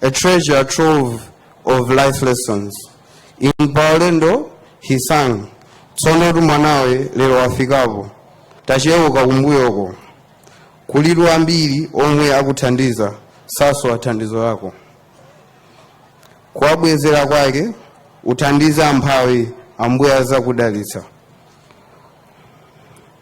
a treasure trove of life lessons in pa ulendo he sang tsono tumwanawe lero wafikapo tacheuka kumbuyoko kulitu ambiri omwe akuthandiza sasowa thandizo lako kuwabwezera kwake uthandize amphawi ambuye azakudalitsa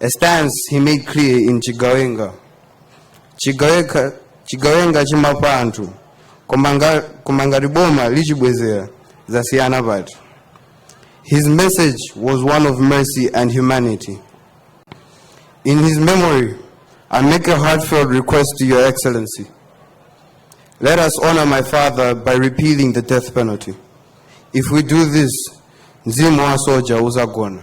A stance he made clear in Chigawenga. Chigawenga, Chigawenga chimapa anthu koma nga- koma ngati boma lichibwezera zasiyana pati. His message was one of mercy and humanity. In his memory, I make a heartfelt request to Your Excellency. Let us honor my father by repealing the death penalty. If we do this, mzimu wa soja uzagona.